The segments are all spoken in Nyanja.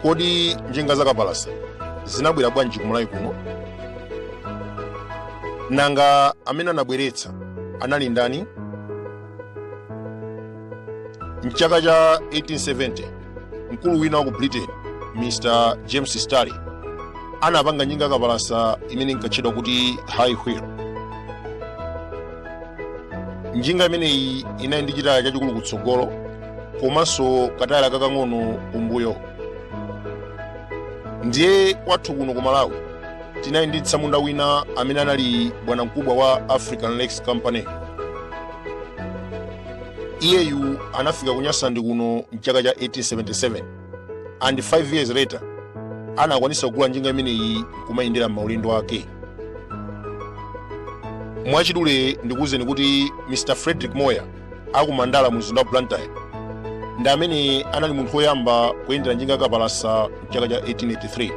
kodi njinga za kapalasa zinabwera bwanji kumalawi kuno nanga amene anabweretsa anali ndani mchaka cha 1870 mkulu wina wa ku britain mr james starley anapanga njinga kapalasa imene inkatchedwa kuti high wheel njinga imeneyi inali ndi chitaya chachikulu kutsogolo komanso katayala kakang'ono kumbuyo ndiye kwathu kuno ku malawi tinali ndi tsamunda wina amene anali bwanamkubwa wa african lakes company iyeyu anafika ku nyasaland kuno mchaka cha 1877 and 5 years later anakwanisa kugula njinga imeneyi kumayendera maulendo ake mwachidule ndikuwuzeni kuti mr frederick moir akumandala mu mzinda wa blantyre ndi amene anali munthu woyamba kuyendera njinga kapalasa mchaka cha 1883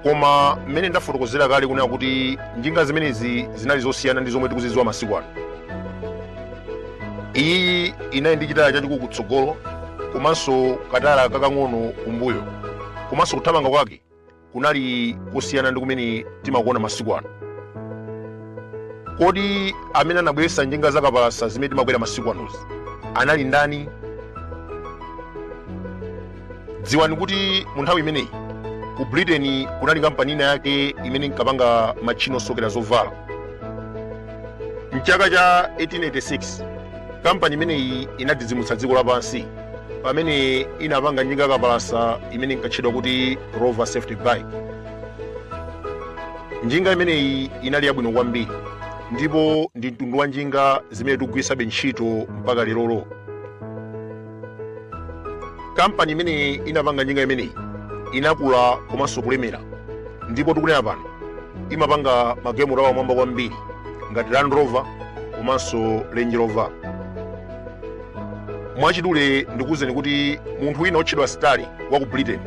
koma mmene ndafotokozera kale kunena kuti njinga zimenezi zinali zosiyana ndi zomwe tikuzidziwa masiku ano iyi inali ndi chitaya chachikulu kutsogolo komanso katayala kakang'ono kumbuyo komanso kuthamanga kwake kunali kosiyana ndi kumene timakuona masiku ano kodi amene anabweretsa njinga zakapalasa zimene timakwera masiku anozi anali ndani dziwani kuti mu nthawi imeneyi ku britain kunali kampani ina yake imene inkapanga matchini osokera zovala mchaka cha 1886 kampani imeneyi inadzidzimutsa dziko lapansi pamene inapanga njinga kapalasa imene inkatchedwa kuti rover safety bike njinga imeneyi inali yabwino kwambiri ndipo ndi mtundu wa njinga zimene tikugwiritsabe ntchito mpaka lerolo kampani imene inapanga njinga imeneyi inakula komanso kulemera ndipo tikunena pano imapanga magalimoto apamwamba kwambiri ngati land rover komanso range rover mwachidule ndikuwuzeni kuti munthu wina otchedwa starley wa ku britain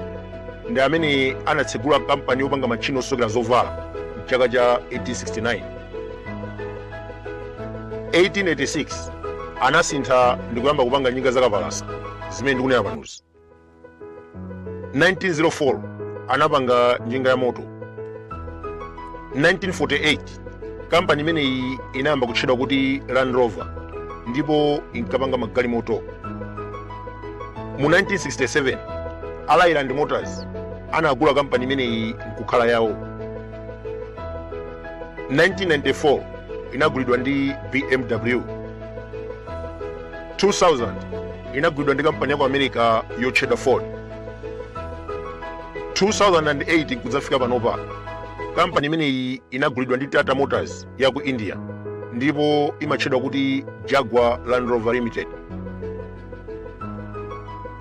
ndi amene anatsegula kampani yopanga matchini osokera zovala mchaka cha 1869 1886 anasintha ndi kuyamba kupanga njinga zakapalasa zimene ndikunena panozi 1904 anapanga njinga ya moto 1948 kampani imeneyi inayamba kutchedwa kuti land rover ndipo inkapanga magalimoto mu 1967 leyland motors anagula kampani imeneyi nkukhala yawo 1994 inagulidwa ndi bmw 2000 inagulidwa ndi kampani ya ku america yotchedwa ford 2008 kudzafika panopa kampani imeneyi inagulidwa ndi tata motors ya ku india ndipo imatchedwa kuti jaguar land rover limited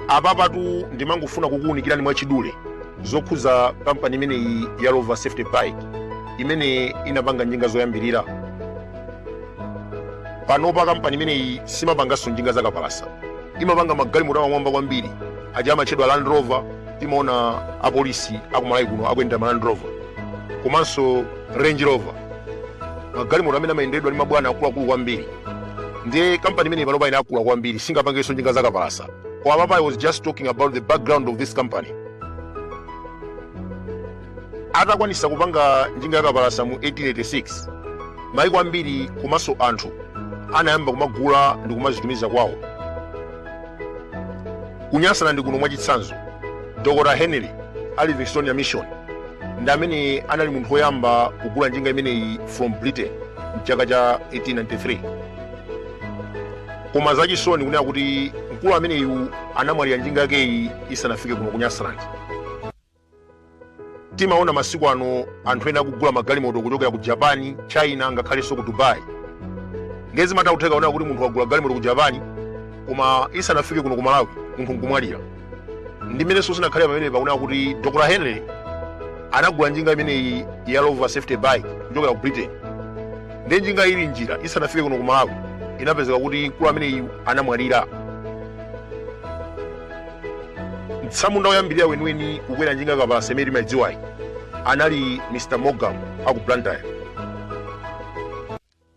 apapatu ndimangofuna kukuwunikirani mwachidule zokhuza kampani imeneyi ya rover safety bike imene inapanga njinga zoyambirira panopa kampani imeneyi simapanganso njinga zakapalasa imapanga magalimoto apamwamba kwambiri aja amatchedwa land rover timaona apolisi aku malawi kuno akuyendera ma land rover komanso range rover magalimoto amene amayendedwa ndi mabwana akuluakulu kwambiri ndiye kampani imeneyi panopa inakula kwambiri singapangenso njinga zakapalasa koma apapa i was just talking about the background of this company atakwanisa kupanga njinga yakapalasa mu 1886 maiko ambiri komanso anthu anayamba kumagula ndi kumazitumiza kwawo ku nyasalandi kuno mwachitsanzo dr henry a livingstonia mission ndi amene anali munthu woyamba kugula njinga imeneyi from britain mchaka cha 1893 koma zachisoni kunena kuti mkulu ameneyu anamwalira njinga yakeyi isanafike kuno ku nyasalandi timaona masiku ano anthu ena akugula magalimoto kuchokera ku japan china ngakhalenso ku dubai ndiye zimatha kutheka kunena kuti munthu wagula galimoto ku japan koma isanafike kuno ku malawi munthu nkumwalira ndi mmenenso zinakhalira pamene pakunena kuti dr henry anagula njinga imeneyi ya rover safety bike kuchokera ku britain ndiye njinga ili mnjira isanafike kuno ku malawi inapezeka kuti mkulu ameneyu anamwalira mtsamunda woyambirira weniweni kukwera njinga yakapalasa imene timayidziwayi anali mr morgan aku blantyre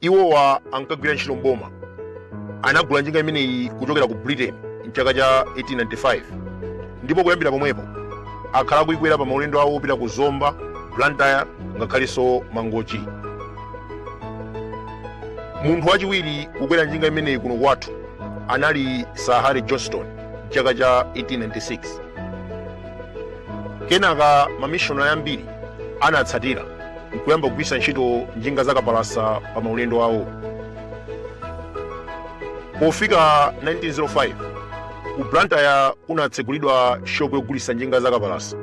iwowa ankagwira ntchito mboma anagula njinga imeneyi kuchokera ku britain mchaka cha 1895 ndipo kuyambira pomwepo akhala akuikwera pa maulendo awo opita ku zomba blantyre ngakhalenso mangochi munthu wachiwiri kukwera njinga imeneyi kuno kwathu anali sir harry johnston mchaka cha 1896 kenaka mamishonari ambiri anatsatira nkuyamba kugwiritsa ntchito njinga zakapalasa pa maulendo awo pofika 1905 ku blantyre kunatsegulidwa shopu yogulitsa njinga zakapalasa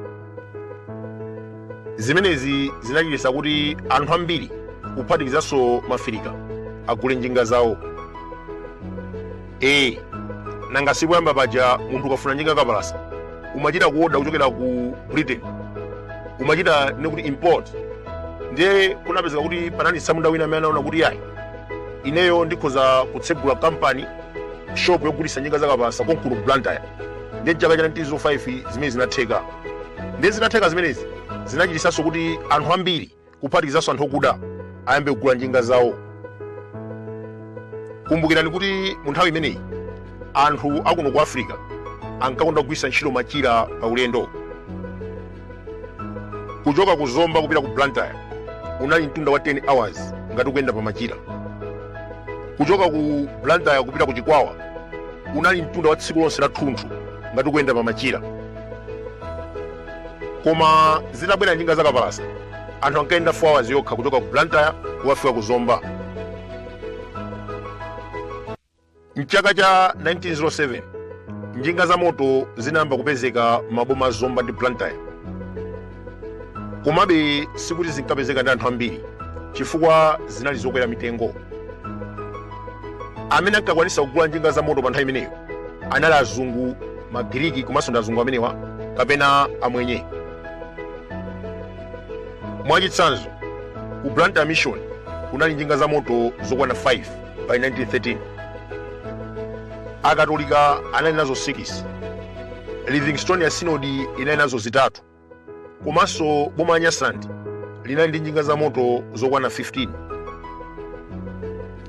zimenezi zinachititsa kuti anthu ambiri kuphatikizanso maafirika agule njinga zawo ee nanga si poyamba paja munthu ukafuna njinga kapalasa umachita kuoda kuchokera ku britain umachita nekuti import ndiye kunapezeka kuti panali tsamunda wina amene anaona kuti yayi ineyo ndikhoza kutsegula kampani shop yogulitsa njinga zakapalasa konkuno ku blantyre ndiye chaka cha 1905 zimene zinatheka ndiye zinatheka zimenezi zinachititsanso kuti anthu ambiri kuphatikizanso anthu okuda ayambe kugula njinga zawo kumbukirani kuti mu nthawi imeneyi anthu akuno ku africa ankakonda kugwiritsa ntchito machira pa ulendo kuchoka ku zomba kupita ku blantyre unali mtunda wa 10 hours ngati ukuyenda pa machira kuchoka ku blantyre kupita ku chikwawa unali mtunda wa tsiku lonse lathunthu ngati ukuyenda pa machira koma zitabwera njinga zakapalasa anthu ankayenda 4 hours yokha kuchoka ku blantyre kukafika ku zomba mchaka cha 1907 njinga za moto zinayamba kupezeka m'maboma a zomba ndi blantyre komabe sikuti zinkapezeka ndi anthu ambiri chifukwa zinali zokwera mitengo amene ankakwanitsa kugula njinga za moto pa nthawi imeneyo anali azungu magiriki komanso ndi azungu amenewa kapena amwenye mwachitsanzo ku blantyre mission kunali njinga za moto zokwana 5 by 1913 akatolika anali nazo 6 livingstonia sinodi inali nazo zitatu komanso boma la nyasaland linali ndi njinga za moto zokwana 15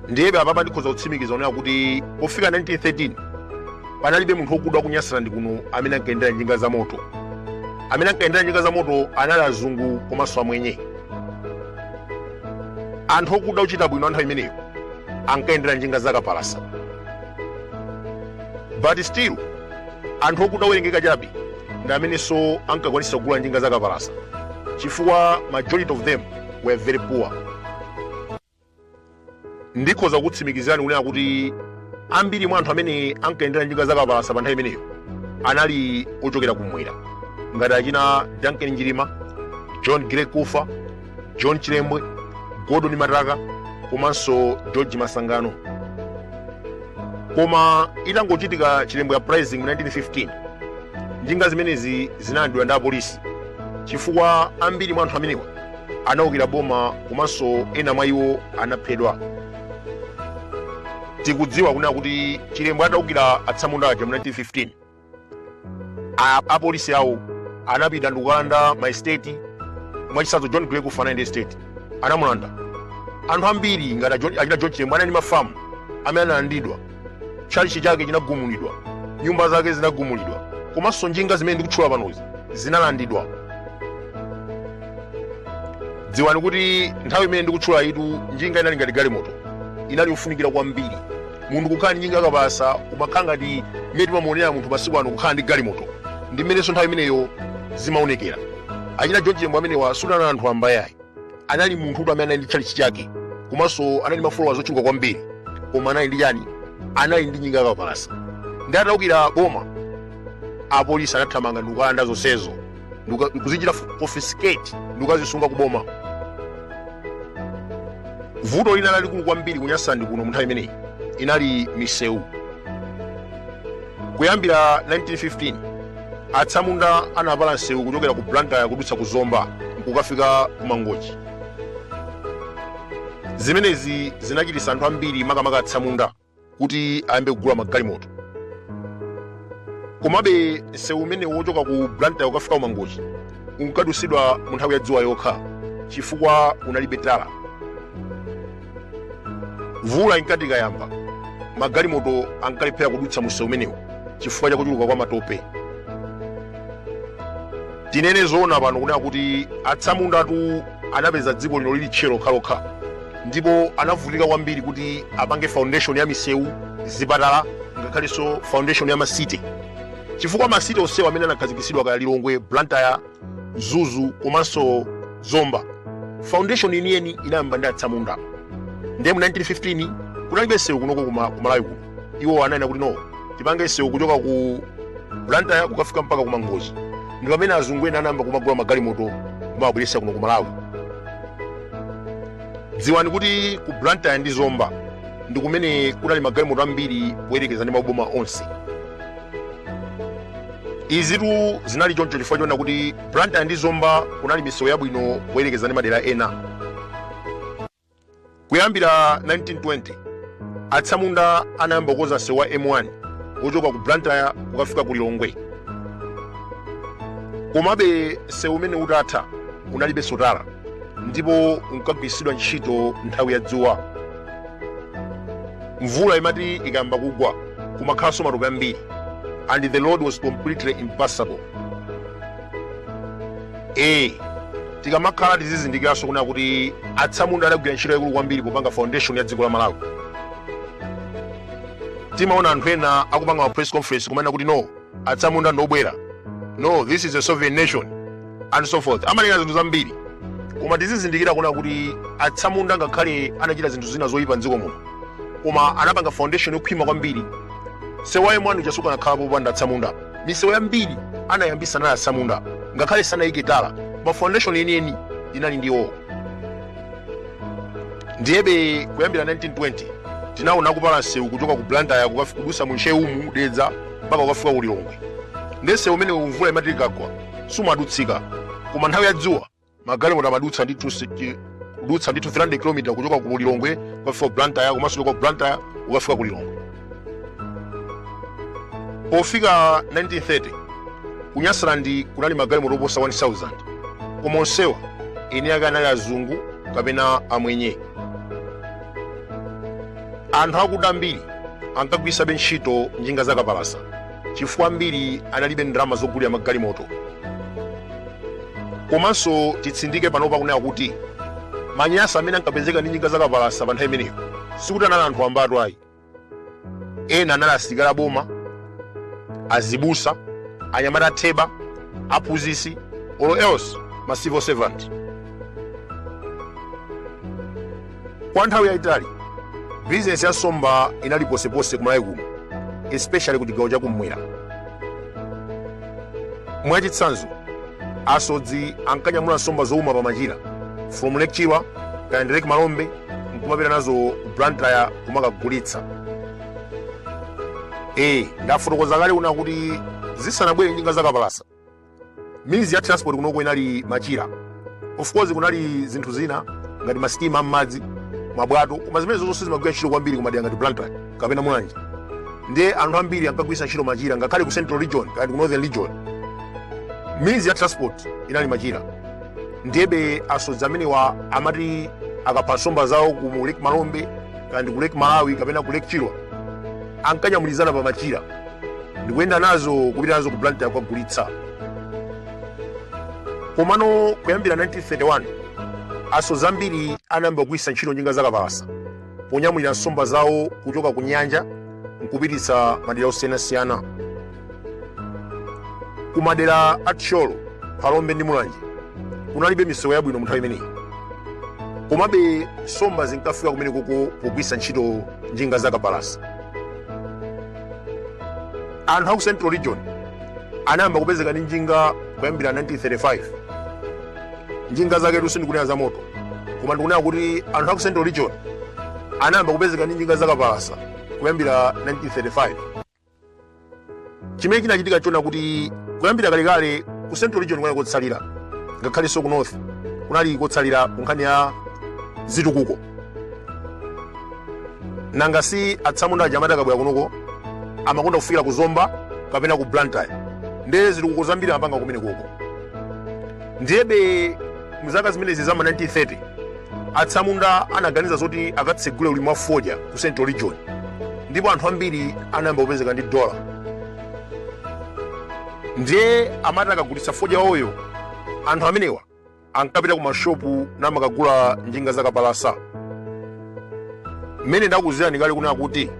ndiyebe apapa ndikhoza kutsimikiza kunena kuti pofika 1913 panalibe munthu wokuda ku nyasaland kuno amene ankayendera njinga za moto amene ankayendera njinga za moto anali azungu komanso amwenye anthu okuda ochita bwino anthawi imeneyo ankayendera njinga za kapalasa but still anthu okuda owerengeka chabe ndi amenenso ankakwanitsa kugula njinga za kapalasa chifukwa majority of them were very poor ndikhoza kukutsimikizirani kunena kuti ambiri mwa anthu amene ankayendera njinga za kapalasa pa nthawi imeneyo anali ochokera kumwera ngati achina duncan njilima john gray kufa john chilembwe gordon mataka komanso george masangano koma itangochitika chilembwe uprising mu 1915 njinga zimenezi zinalandidwa ndi apolisi chifukwa ambiri mwa anthu amenewa anaukira boma komanso ena mwa iwo anaphedwa tikudziwa kunena kuti chilembwe ataukira atsamunda aja mu 1915 a- apolisi awo anapita ndikukalanda ma estate mwachitsanzo john grey kufa anali ndi estate anamulanda anthu ambiri ngati achina john chilembwe anali ndi mafamu amene analandidwa tchalichi chake chinagumulidwa nyumba zake zinagumulidwa komanso njinga zimene ndikutchula panozi zinalandidwa dziwani kuti nthawi imene ndikutchulayitu njinga inali ngati galimoto inali yofunikira kwambiri munthu kukhala ndi njinga yakapalasa umakhala ngati mmene timamuonera munthu masiku ano kukhala ndi galimoto ndi mmenenso nthawi imeneyo zimaonekera achina john chilembwe amenewa sikuti anali anthu wamba ayi anali munthu woti amene anali ndi tchalitchi chake komanso anali ndi mafolowazi ochuluka kwambiri koma anali ndi chani anali ndi njinga yakapalasa ndiye ataukira boma apolisi anathamanga ndikukalanda zonsezo Nduka- nkuzichita confiscate ndikukazisunga kuboma vuto lina lalikulu kwambiri ku nyasaland kuno munthawi imeneyi inali misewu kuyambira 1915 atsamunda anapala msewu kuchokera ku blantyre kudutsa ku zomba nkukafika ku mangochi zimenezi zinachititsa anthu ambiri makamaka atsamunda kuti ayambe kugula magalimoto komabe msewu umenewu wochoka ku blantyre kukafika ku mangochi unkadutsidwa mu nthawi ya dzuwa yokha chifukwa unalibe tala mvula inkati ikayamba magalimoto ankalephera kudutsa msewu umenewu chifukwa cha kuchuluka kwa matope tinene zoona pano kunena kuti atsamundatu anapeza dziko lino lili tchire lokhalokha ndipo anavutika kwambiri kuti apange foundation ya misewu zipatala ngakhalenso foundation ya ma city chifukwa ma city onsewa amene anakhazikitsidwa kaya lilongwe blantyre mzuzu komanso zomba foundation yeniyeni inayamba ndi atsamunda ndiye mu 1915 kunalibe msewu kunoko kumalawi kuno iwo ananena kuti no tipange msewu kuchoka ku blantyre kukafika mpaka ku mangochi ndi pamene azungu ena anayamba kumagula magalimoto kumawabweretsa kuno ku malawi dziwani kuti ku blantyre ndi zomba ndi kumene kunali magalimoto ambiri poyerekeza ndi maboma onse izitu zinali choncho chifukwa choona kuti blantyre ndi zomba kunali misewu yabwino poyerekeza ndi madera ena Kuyambira 1920, atsamunda anayamba kukonza msewu wa M1 wochoka ku Blantyre kukafika ku Lilongwe. Komabe msewu umene utatha unalibe nso tala ndipo unkagwiritsidwa ntchito nthawi ya dzuwa. Mvula imati ikayamba kugwa kumakhalanso matope ambiri and the road was completely impassable. e tikamakhala tizizindikiranso kunena kuti atsamunda adagwira ntchito yaikulu kwambiri popanga foundation ya dziko la malawi timaona anthu ena akupanga ma press conference kumanena kuti no atsamunda ndi obwera no this is a sovereign nation and so forth amanena zinthu zambiri koma tizizindikira kunena kuti atsamunda ngakhale anachita zinthu zina zoyipa mdziko muno koma anapanga foundation yokhwima kwambiri msewu wa M1 uja sukanakhala popanda atsamunda misewu yambiri anayambitsa anali atsamunda ngakhale sanayike tala ma foundation yeniyeni inali ndi iwowo ndiyebe kuyambira 1920 tinaona kupala msewu kuchoka ku blantyre kukafi- kudutsa mu ntcheu umu dedza mpaka kukafika ku lilongwe nde msewu umenewu mvula imati ikagwa sumadutsika koma nthawi ya dzuwa magalimoto amadutsa ndithu si- chi- kudutsa ndithu 300 km kuchoka ku lilongwe kukafika ku blantyre komanso kuchoka ku blantyre kukafika ku lilongwe pofika 1930 ku nyasaland kunali magalimoto oposa 1000 koma onsewa eni ake anali azungu kapena amwenye anthu akuda ambiri ankagwiritsabe ntchito njinga zakapalasa chifukwa ambiri analibe ndalama zogulira magalimoto komanso titsindike panopa kunena kuti manyasa amene ankapezeka ndi njinga zakapalasa pa nthawi imeneyo sikuti anali anthu wambatu ayi ena anali asilikali aboma azibusa anyamata atheba aphunzitsi or else ma civil servant Kwa nthawi yayitali, bizinesi ya nsomba inali ponseponse ku Malawi kuno, especially ku chigawo chakum'mwera. Mwachitsanzo, asodzi ankanyamula nsomba zouma pa machira from Lake Chilwa kapena Lake Malombe nkumapita nazo ku Blantyre kumakagulitsa. Eh, ndafotokoza kale kunena kuti zisanabwere njinga zakapalasa means ya transport kunoko inali machira of course kunali zinthu zina ngati masitima ammadzi mabwato koma zimenezo sizimagwira ntchito kwambiri kumadera ngati blantyre kapena mulanje ndiye anthu ambiri ankagwiritsa ntchito machira ngakhale ku central region kapena ku northern region means ya transport inali machira ndiyebe asodzi amenewa amati akapha nsomba zawo ku lake malombe kapena ku lake malawi kapena ku lake chilwa ankanyamulizana pa machira ndikuyenda nazo kupita nazo ku blantyre kukagulitsa komano kuyambira 1931 asodzi ambiri anayamba kugwiritsa ntchito njinga zakapalasa ponyamulira nsomba zawo kuchoka ku nyanja nkupititsa madera osiyanasiyana ku madera a thyolo phalombe ndi mulanje kunalibe misewu yabwino mu nthawi imeneyi komabe nsomba zinkafika kumenekoko pogwiritsa ntchito njinga zakapalasa anthu aku central region anayamba kupezeka ndi njinga kuyambira 1935 njinga zaketu sindikunena za moto koma ndikunena kuti anthu aku central region anayamba kupezeka ndi njinga zakapalasa kuyambira 1935 chimene chinachitika nchonena kuti kuyambira kalekale ku central region kunali kotsalira ngakhalenso ku north kunali kotsalira ku nkhani ya zitukuko nanga si atsamunda aja amati akabwera kunoko amakonda kufikira ku zomba kapena ku blantyre ndiye zitukuko zambiri amapanga kumenekoko ndiyebe mzaka zimenezi za ma 1930 atsamunda anaganiza zoti akatsegule ulimi wa fodya ku central region ndipo anthu ambiri anayamba kupezeka ndi dola ndiye amati akagulitsa fodya wawoyo anthu amenewa ankapita ku mashopu namakagula njinga zakapalasa mmene ndakuuzirani kale kunena kuti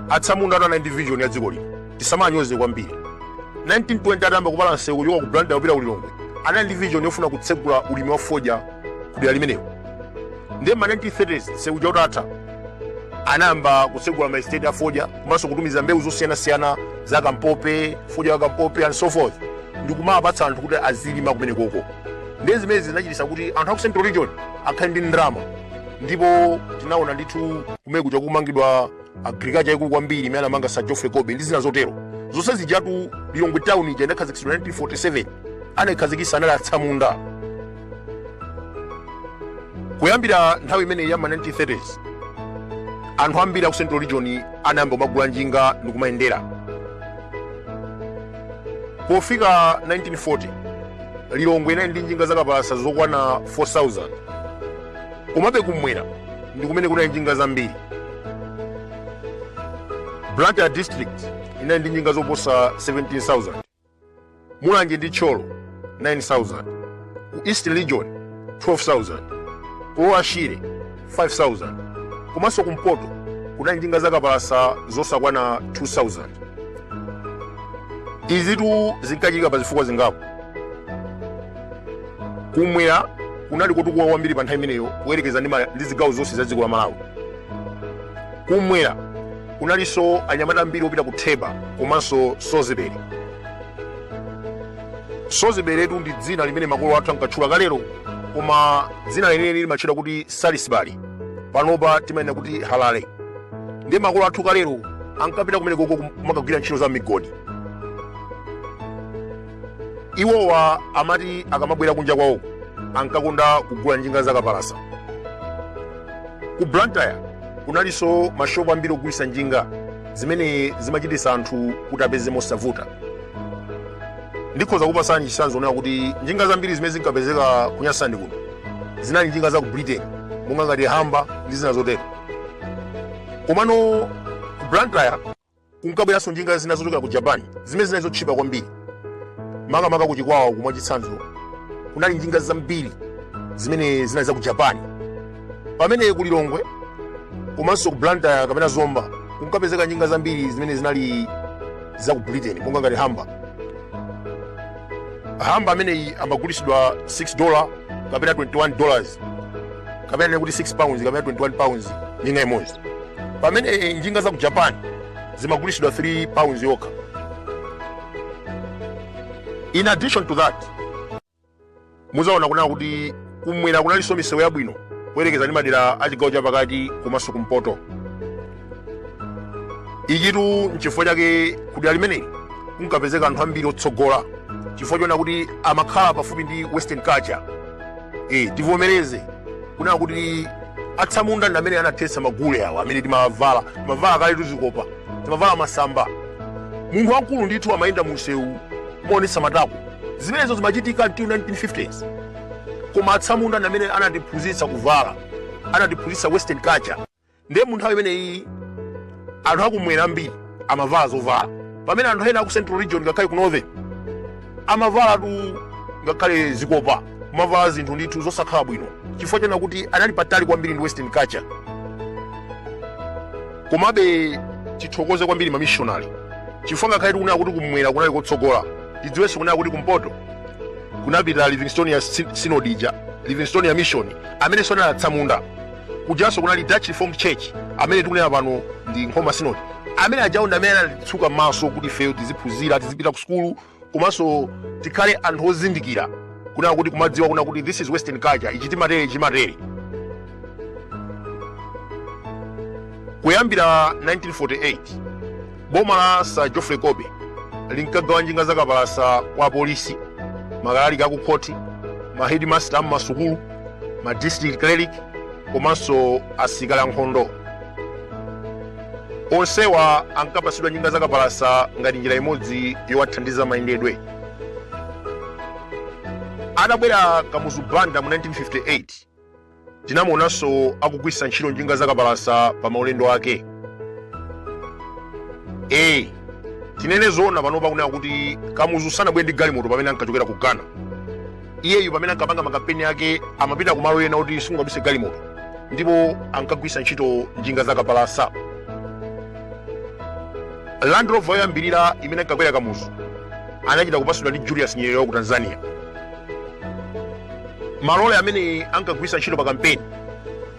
atsamunda tu anali ndi vision ya dziko lino tisamanyoze kwambiri 1920 atayamba kupala nsewu wochoka ku blantyre kupita ku lilongwe anali ndi vision yofuna kutsegula ulimi wa fodya ku dera limenewo ndiye ma 1930s nsewu uja utatha anayamba kutsegula maestate a fodya komanso kutumiza mbewu zosiyanasiyana za kampope fodya wa kampope and so forth ndi kumawapatsa anthu kuti azilima kumenekoko ndiye zimenezi zinachititsa kuti anthu aku central region akhale ndi ndalama ndipo tinaona ndithu kumene kuja kumangidwa agriculture yaikulu kwambiri imene anamanga sir geoffrey colby ndi zina zotero zonse zijatu lilongwe town ija inakhazikitsidwa 1947 anayikhazikitsa anali atsamunda kuyambira nthawi imeneyi ya ma 1930s anthu ambiri aku central region anayamba kumagula njinga ndi kumayendera pofika 1940 lilongwe inali ndi njinga zakapalasa zokwana 4000 komabe kumwera ndi kumene kunali njinga zambiri blantyre district inali ndi njinga zoposa 17000 mulanje ndi thyolo 9,000 ku eastern region 12,000 ku lower shire 5,000 komanso kumpoto kunali njinga zakapalasa zosakwana 2,000 izitu zinkachitika pa zifukwa zingapo kumwera kunali kotukuka kwambiri pa nthawi imeneyo kuyerekeza ndi ma- ndi zigawo zonse za dziko la malawi kumwera kunalinso anyamata ambiri opita ku theba komanso sozibere soziberetu ndi dzina limene makolo athu ankatchula kalero koma dzina lenileni limatchedwa kuti salisbury panopa timanena kuti harare ndiye makolo athu kalero ankapita kumenekoko kumakagwira ntchito za migodi iwowa amati akamabwera kunja kwawo ankakonda kugula njinga zakapalasa ku blantyre kunalinso mashopu ambiri ogulitsa njinga zimene zimachititsa anthu kuti apeze mosavuta ndikhoza kupasani chitsanzo onena kuti njinga zambiri zimene zinkapezeka ku nyasaland kuno zinali njinga za ku britain monga ngati humber ndi zina zotero komano ku blantyre kunkabweranso njinga zina zochokera ku japan zimene zinali zotchipa kwambiri makamaka ku chikwawako mwachitsanzo kunali njinga zambiri zimene zinali za ku japan pamene ku lilongwe komanso ku blantyre kapena zomba kunkapezeka njinga zambiri zimene zinali za ku britain monga ngati humber humber ameneyi amagulitsidwa 6 dollar kapena 21 dollars kapena tinene kuti 6 pounds kapena 21 pounds njinga imodzi pamene eh, njinga za ku japan zimagulitsidwa 3 pounds yokha in addition to that mudzaona kunena kuti kumwera kunalinso misewu yabwino kuyerekeza ndi madera a chigawo chapakati komanso kumpoto ichitu nchifukwa chake kudera limeneli kunkapezeka anthu ambiri otsogola chifukwa chonena kuti amakhala pafupi ndi western culture e, tivomereze kunena kuti atsamunda ndi amene anathetsa magule awa amene timavala timavala kale tuzikopa timavala masamba munthu wamkulu ndithu amayenda mu msewu kumaonetsa matako zimenezo zimachitika until 1950s koma atsamunda ndi amene anatiphunzitsa kuvala anatiphunzitsa western culture ndiye mu nthawi imeneyi anthu akumwera ambiri amavala zovala pamene anthu ena aku central region ngakhale ku northern amavalatu ngakhale zikopa kumavala zinthu ndithu zosakhala bwino chifukwa chonena kuti anali patali kwambiri ndi western culture komabe tithokoze kwambiri mamishonari chifukwa ngakhale tikunena kuti kumwera kunali kotsogola tidziwenso kunena kuti kumpoto kunapita livingstonia Sy- synod ija livingstonia mission amenenso anali atsamunda kujanso kunali dutch reformed church amene tikunena pano ndi nkhoma synod amene ajawo ndi amene anatitsuka mmaso kuti ifeyo tiziphunzira tizipita ku sukulu komanso tikhale anthu ozindikira kunena kuti kumadziwa kunena kuti this is western culture ichi timatere chimatere kuyambira 1948 boma la sir geoffrey colby linkagawa njinga zakapalasa kwa apolisi makalaliki a ku khoti mahedimasta a m'masukulu ma district clerk komanso asilikali ankhondo onsewa ankapatsidwa njinga zakapalasa ngati njira imodzi yowathandiza mayendedwe atabwera kamuzu banda mu 1958 Tinamuonanso akugwiritsa ntchito njinga zakapalasa pa maulendo ake. a Tinene zoona panopa kunena kuti Kamuzu sanabwere ndi galimoto pamene ankachokera ku Ghana. Iyeyu pamene ankapanga makampeni ake amapita ku malo ena oti simungapitse galimoto ndipo ankagwiritsa ntchito njinga zakapalasa. Land Rover yoyambirira imene ankakwera Kamuzu anachita kupatsidwa ndi Julius Nyerere wa ku Tanzania. malole amene ankagwiritsa ntchito pa kampeni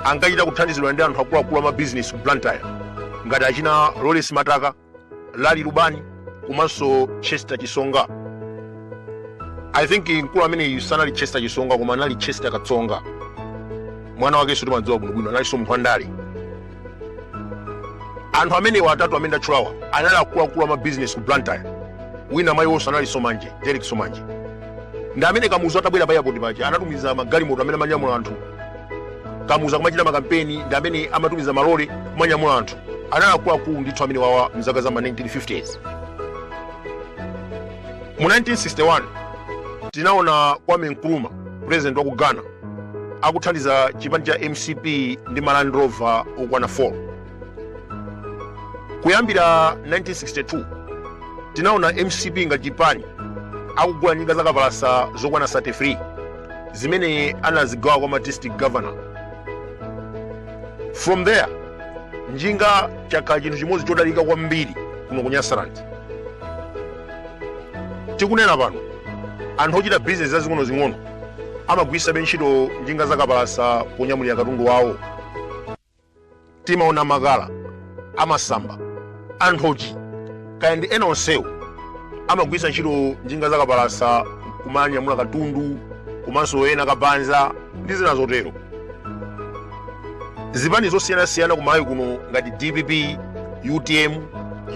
ankachita kuthandizidwa ndi anthu akuluakulu a mabizinesi ku blantyre ngati achina lawrence mataka lali lubani komanso chester chisonga i think mkulu ameneyu sanali chester chisonga koma anali chester katsonga mwana wakenso timadziwa bwinobwino analinso munthu wandale anthu amenewa atatu amene ndatchulawa anali akuluakulu a mabizinesi ku blantyre wina mwa iwonso anali somanje derek somanje ndi amene kamuzu atabwera pa airport paja anatumiza magalimoto amene amanyamula anthu kamuzu akamachita makampeni ndi amene amatumiza malole kumanyamula anthu anali akuluakulu ndithu amenewawa mzaka za ma 1950s mu 1961 tinaona kwame nkrumah president wa ku ghana akuthandiza chipani cha mcp ndi ma land rover okwana 4 kuyambira 1962 tinaona mcp ngati chipani akugula njinga za kapalasa zokwana 33 zimene anazigawa kwa ma district governor from there njinga chakhala chinthu chimodzi chodalirika kwambiri kuno ku nyasaland tikunena pano anthu ochita bizinesi zazing'onozing'ono amagwiritsabe ntchito njinga za kapalasa ponyamulira katundu wawo timaona makala amasamba anthochi kaya ndi ena onsewo amagwiritsa ntchito njinga zakapalasa kumanyamula katundu komanso ena kabanza ndi zina zotero zipani zosiyanasiyana kumalawi kuno ngati dpp utm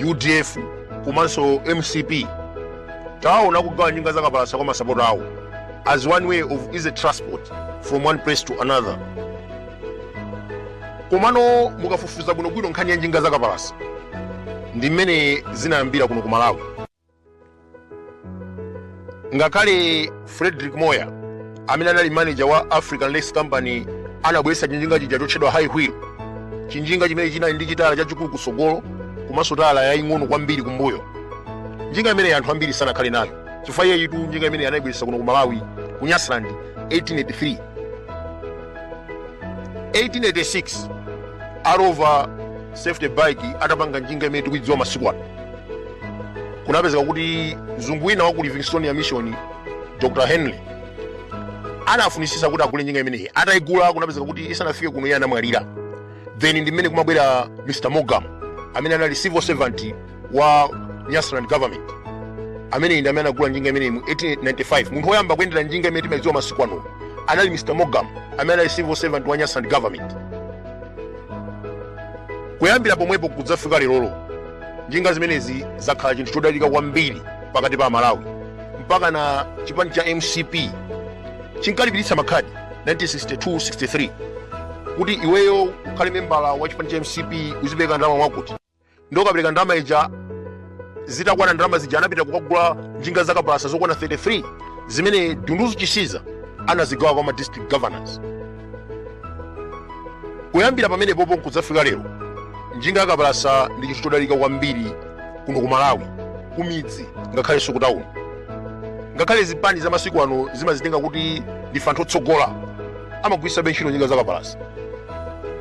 udf komanso mcp taona kugawa njinga zakapalasa kwa masapota awo as one way of easy transport from one place to another komano mukafufuza bwinobwino nkhani ya njinga zakapalasa ndi mmene zinayambira kuno ku malawi ngakhale frederick moir amene anali manager wa african lakes company anabweretsa chinjinga chija chotchedwa high wheel chinjinga chimene chinali ndi chitala chachikulu kusogolo komanso tala yaying'ono kwambiri kumbuyo njinga imeneyi anthu ambiri sanakhale nayo chifukwa iyeyitu njinga imeneyi anayibweretsa kuno ku malawi ku nyasaland 1883 1886 a rover safety bike atapanga njinga imene tikuidziwa masiku ano kunapezeka kuti mzungu wina wa ku livingstonia mission dr henry anafunisisa kuti agule njinga imeneyi atayigula kunapezeka kuti isanafike kuno iye anamwalira then ndi mmene kumabwera mr morgan amene anali civil servant wa nyasaland government amene ndi amene anagula njinga imeneyi mu 1895 munthu woyamba kuyendera njinga imene timadziwa masiku ano anali mr morgan amene anali civil servant wa nyasaland government kuyambira pomwepo kudzafika lerolo njinga zimenezi zakhala chinthu chodalika kwambiri pakati pa amalawi mpaka na chipani cha mcp chinkalipiritsa makhadi 1962-63 kuti iweyo ukhale membala wa chipani cha mcp uzipereka ndalama mwakuti ndi okapereka ndalama ija zitakwana ndalama zija anapita kukagula njinga zakapalasa zokwana 33 zimene dunduzu chisiza anazigawa kwa ma district governors kuyambira pamenepopo nkudzafika lero njinga yakapalasa ndi chinthu chodalika kwambiri kuno ku malawi kumidzi ngakhalenso kutawuni ngakhale zipani za masiku ano zimazitenga kuti ndife anthu otsogola amagwiritsabe ntchito njinga zakapalasa